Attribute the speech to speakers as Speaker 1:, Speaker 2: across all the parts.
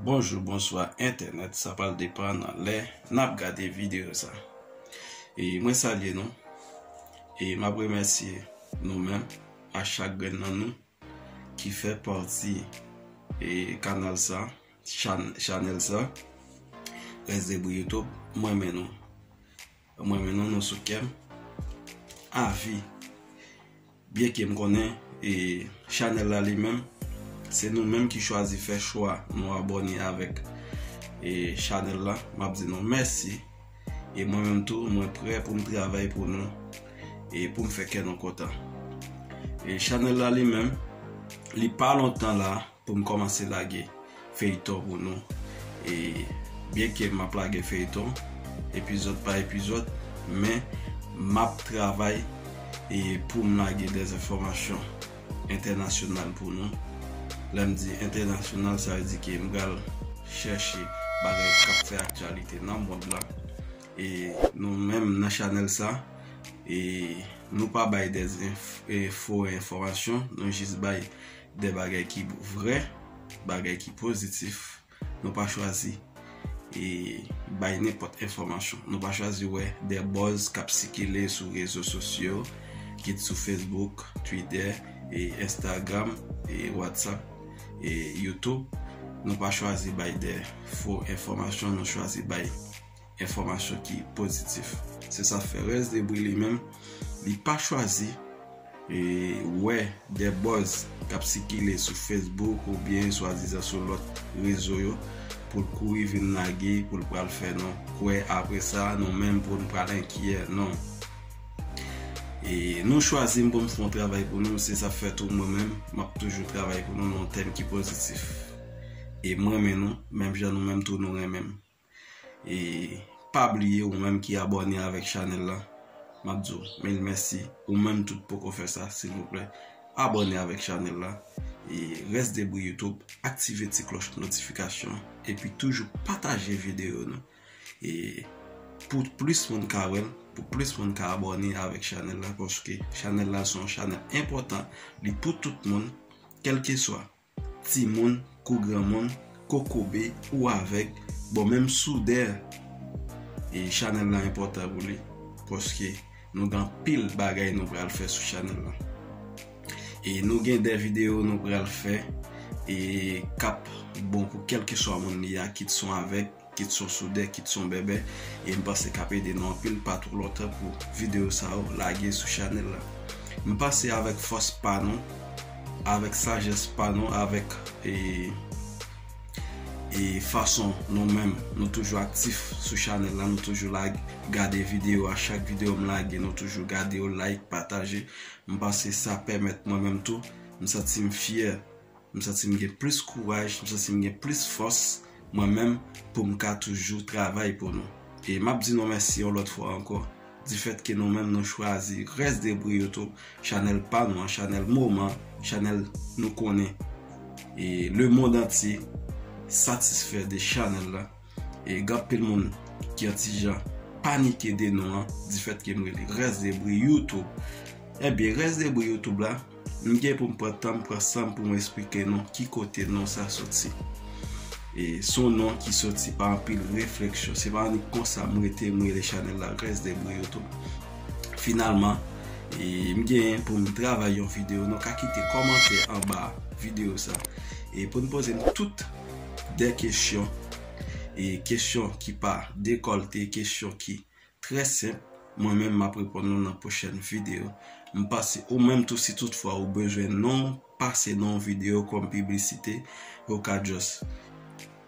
Speaker 1: Bonjou bonswa entènèt sa pral depan nan lè nap gade video sa e mwen salye nou e map remèsye nou menm a chak grenn nan nou ki fè pati e kanal sa chanèl sa Rèsdebri YouTube mwen renmen nou. M renmen nou, nou sou kèm avi. Byen ke m konnen e chanèl la li menm se nou menm ki chwazi fè chwa nou abòne avèk e chanèl la m ap di nou mèsi e mwen menm tou mwen prè pou m travay pou nou e pou m fè kè nou kontan. E chanèl la li menm li pa lontan la. Poum kòmanse lage feyton pou nou e byen ke map lage feyton epizòd pa epizòd men map travay e poum lage dè enfòmasyon entènasyonal pou nou lèm di entènasyonal sa vle di ke m pral chèche bagay kap fè aktyalite nan mond lan e nou menm nan chanèl sa e nou pa bay dè fo enfòmasyon nou jis bay De bagay ki vrè, bagay ki pozitif, nou pa chwazi e bay nenpòt enfòmasyon. Nou pa chwazi wè de bòz k ap sikile sou rezo sosyo, kit sou Facebook, Twitè, Enstagram, Whatsapp, Youtube. Nou pa chwazi bay de fo enfòmasyon, nou chwazi bay. Enfòmasyon ki pozitif. Se sa k fè rès debri li menm, li pa chwazi wè dè buzz k ap sikile sou Facebook oubyen swadizan sou lòt rezo yo pou l kouri vin lage pou l pral fè nou kwè apre sa nou menm pou n pral enkyè. Non. E nou chwazi m pou m fè yon travay pou nou, se sa k fè tou mwen menm m ap toujou travay pou nou nan yon tèm ki pozitif. E m renmen nou, menm jan nou menm tou nou renmen m. e pa bliye ou menm ki abòne avèk chanèl la map diw mil mèsi ou menm tou poko fè sa silvouplè abòne avèk chanèl la e rès debri youtube aktive ti klòch notifikasyon an epi toujou pataje videyo nou e pou plis moun ka wèl pou plis moun ka abòne avèk chanèl la paske chanèl la son chanèl enpòtan li pou tout moun kèlkeswa. Timoun kou granmoun, kokobe ou avèg, bon menm soudè chanèl la enpòtan pou li paske nou gen anpil bagay nou pral fè sou chanèl la e nou gen de videyo nou pral fè e kap bon pou kèlkeswa moun li a kit son avèg Kit son soudè kit son bèbè e m panse kap ede nou anpil pa two lontan pou video sa yo lage sou chanèl la m panse avèk fòs pa nou avèk sajès pa nou avèk e fason nou menm nou toujou aktif sou chanèl la nou toujou lage gade video a chak video m lage nou toujou gade yo like pataje m panse sa pèmèt mwen menm tou m santi m fyè m santi m gen plis kouraj, m santi m gen plis fòs mwen menm pou m ka toujou travay pou nou. E m ap di nou mèsi yon lòt fwa ankò difèt ke nou menm nou chwazi Rès de Bri yo tou chanèl pa nou an, chanèl moman, chanèl nou konnen e lemond antye satisfè de chanèl la. E gen anpil moun ki yon ti jan panike de non an di fèt ke m rele Rès de bri youtube. Ebyen Rès de bri youtube la, m gen pou m pran tan m, pran san m pou m esplike nou ki kote non sa soti. E se yon non ki soti pa anpil refleksyon. Se pa annik konsa m rete m rele chanèl la Rès de bri youtube. Finalman, e m genyen pou m travay yon videyo. Nou ka kite kòmantè anba videyo sa. E pou n poze m tout de kesyon, e kesyon ki pa dekòlte, kesyon ki trè senp, mwen menm map reponn nou nan pwochèn video. M pase ou menm tou si tout fwa ou bezwen non, pase non video kòm piblisite, ou ka just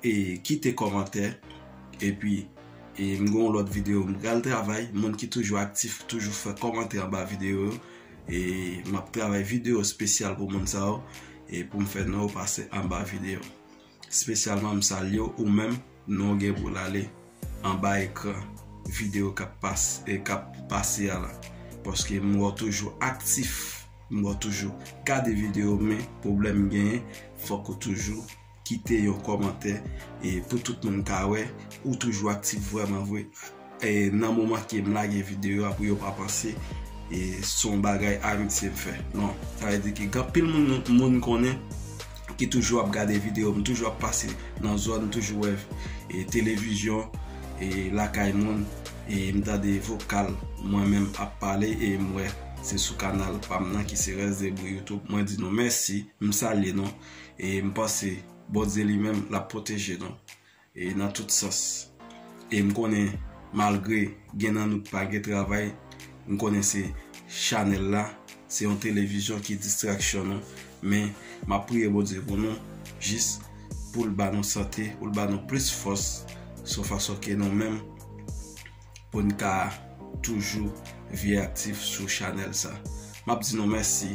Speaker 1: e kite kòmantè, epi e m gen yon lòt video m pral travay, moun ki toujou aktif, toujou fè kòmantè anba video yo, E map travay video spesyal pou moun sa yo e poum fè non yo pase anba video. Spesyalman m salye w ou menm non w gen pou l ale anba ekran video kap pase kap pase a la. Paske m wè w toujou aktif, m wè w toujou gade video men pwoblèm m genyen fòk ou toujou. Kite yon kòmantè pou tout moun ka wè ou toujou aktif vrèman vre nan moman kem lage video a pou yo pa panse son bagay amitye m fè non sa vle di ke gen anpil moun moun konnen ki toujou ap gade video m toujou ap pase nan zòn toujou wè televizyon lakay moun m tande vokal mwen menm ap pale e m wè se sou kanal pam nan ki se rèsdebri youtube mwen di nou mèsi m salye nou. E m panse Bondye li menm l ap pwoteje nou e nan tout sans. E m konnen malgre gen nan nou k pa gen travay, m konnen se chanèl la, se yon televizyon ki distraksyon nou. Men m ap priye Bondye pou nou jis pou l ba nou sante, pou l ba nou plis fòs sou fason ke nou menm. poun ka toujou vye aktif sou chanèl sa map di nou mèsi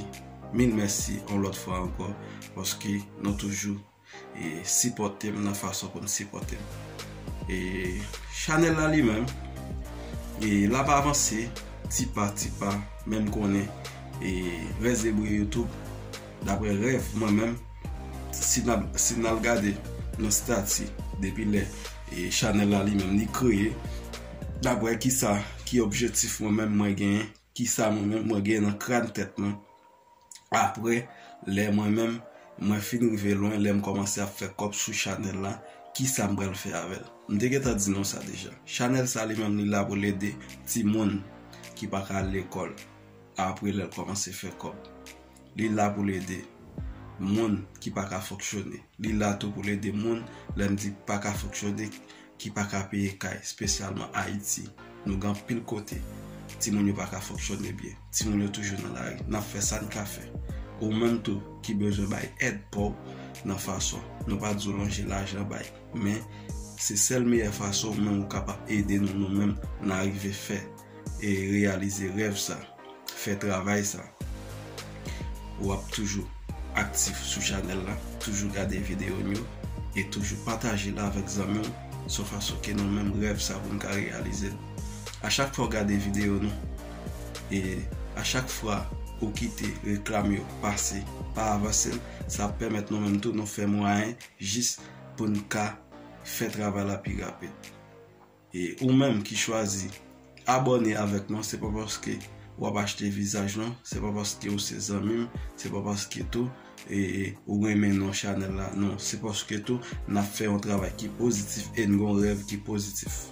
Speaker 1: mil mèsi yon lòt fwa ankò paske nou toujou e sipòtem nan fason poun sipòtem e chanèl la li menm e lap avanse ti pa ti pa menm konnen e rès de bri youtube daprè rèv mwen menm. si n al gade nan stati depi lè chanèl la li menm li kreye daprè ki sa ki objetif mwen menm mwen genyen ki sa mwen menm mwen genyen nan kran tèt mwen aprè lè mwen menm mwen fin rive lwen lè m kòmanse ap fè kòb sou chanèl la ki sa m pral fè avèl m te gentan di nou sa deja chanèl sa li menm li la pou l ede timoun ki pa ka al lekòl Apre lè l kòmanse fè kòb. Li la pou l ede moun ki pa ka fonksyone. Li la tou pou l ede moun, lè m di pa ka fonksyone, ki pa ka peye kay, espesyalman Ayiti. Nou gen anpil kote timoun yo pa ka fonksyone byen. Timoun yo toujou nan lari. N ap fè sa n ka fè. Ou menm tou ki bezwen bay èd pa w nan fason nou pa di w lonje lajan bay. Men, se sèl meyè fason ou menm ou kapab ede nou nou menm n arive fè. e reyalize rèv sa, fè travay sa, ou ap toujou aktif sou chanèl la, toujou gade videyo m yo, e toujou pataje l avèk zanmi w, sou fason ke nou menm rèv sa pou n ka reyalize l. A chak fwa w gade videyo nou, e a chak fwa ou kite reklam yo pase, pa avanse l, sa ap pèmèt nou menm tou nou fè mwayen jis pou n ka fè travay la pi rapid. E ou menm ki chwazi abòne avèk mwen se pa paske wap achte vizaj non, se pa paske ou se zanmim, se pa paske tou ou renmen non chanèl la non, se paske tou nap fè yon travay ki pozitif e n gon rèv ki pozitif.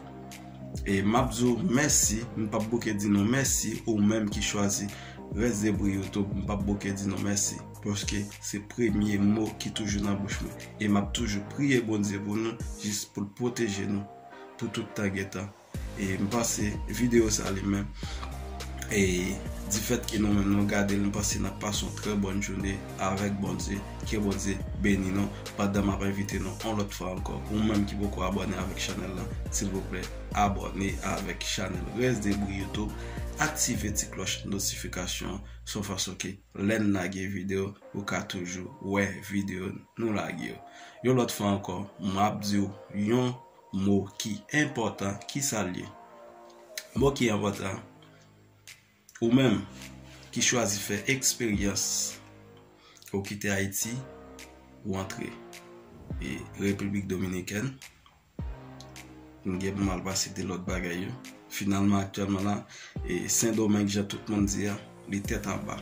Speaker 1: E map di w mèsi, m pap bouke di nou mèsi ou menm ki chwazi Rès Debri Youtube, m pap bouke di nou mèsi paske se premye mo ki toujou nan bouch mwen e map toujou priye Bondye pou nou jis poul pwoteje nou. pou tout tan gen tan e m panse video sa li menm e di fèt ke nou menm nou gade l m panse nap pase yon trè bòn joune avèk Bondye ke Bondye beni nou pandan map envite nou yon lòt fwa ankò ou menm ki poko abòne avèk chanèl lan silvouplè abòne avèk chanèl Resdebri YouTube aktive ti klòch notifikasyon se yon fason ke lè n lage video ou ka toujou wè video nou lage yo. Yon lòt fwa ankò, m ap di w yon mo ki enpòtan. Ki sa l ye? Mo ki enpòtan, ou menm ki chwazi fè eksperyans pou w kite Ayiti, pou w antre Repiblik Dominikèn, Nou gen pou mal pa site lòt bagay yo. Finalman aktyèlman la, e Sendomeng jan tout moun di a, li tèt anba.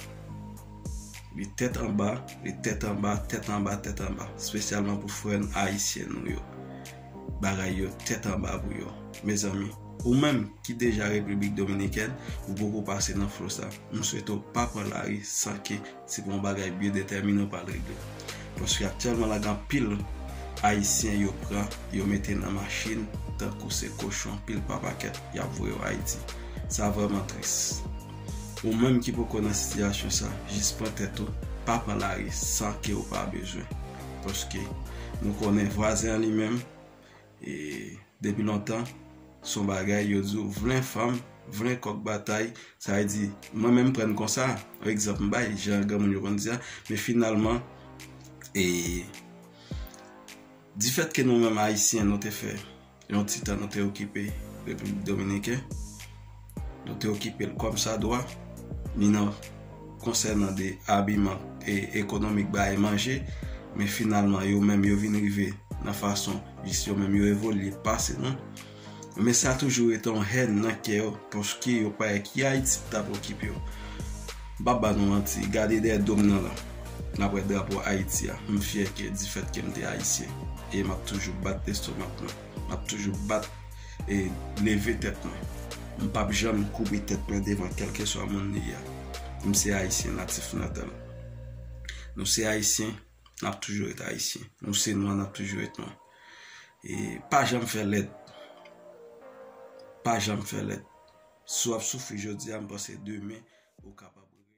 Speaker 1: Li tèt anba, li tèt anba, tèt anba, tèt anba. Spesyalman pou frè n ayisyen nou yo. Bagay yo tèt anba pou yo. Mezanmi, ou menm ki deja Repiblik Dominikèn, ou poko pase nan flo sa. M swete w pa pran lari san ke Se pa yon bagay byen detèmine ou pral regle. Paske aktyèlman la gen anpil Ayisyen yo pran, yo mete nan machin tankou se kochon pil pa pakèt y ap voye yo Ayiti. Sa vrèman tris. Ou menm ki poko nan sitiyasyon sa, jis pran tèt ou, pa pran lari san ke ou pa bezwen. Paske nou konnen vwazen an li menm, E depi lontan son bagay yo di w vle fanm, vle kòk batay, sa vle di mwen menm m pran konsa, yon egzanp m bay jan granmoun yo konn di a, men finalman e difèt ke nou menm ayisyen nou te fè yon ti tan nou te okipe Repiblik Dominiken. Nou te okipe l kòmsadwa, ni nan konsènan de abiman e ekonomik ba e manje, men finalman yo menm yo vin rive nan fason jis yo menm yo evolye pase nou. Men sa toujou rete yon hèn nan kè yo paske yo pa wè ki Ayiti ki t ap okipe yo. M p ap ba nou manti, gade dèyè do m nan lan, n ap wè drapo Ayiti a. M fyè ke difèt ke m te Ayisyen e m ap toujou bat lestomak mwen, m ap toujou bat. E leve tèt mwen. M pap janm koube tèt mwen devan kèlkeswa moun li ye. M se Ayisyen natif natal. Nou se Ayisyen, n ap toujou ret Ayisyen. Nou se nwa, n ap toujou ret nwa. E pa janm fè lèd. Pa janm fè lèd. Si w ap soufri jodi a, m panse demen ou kapab.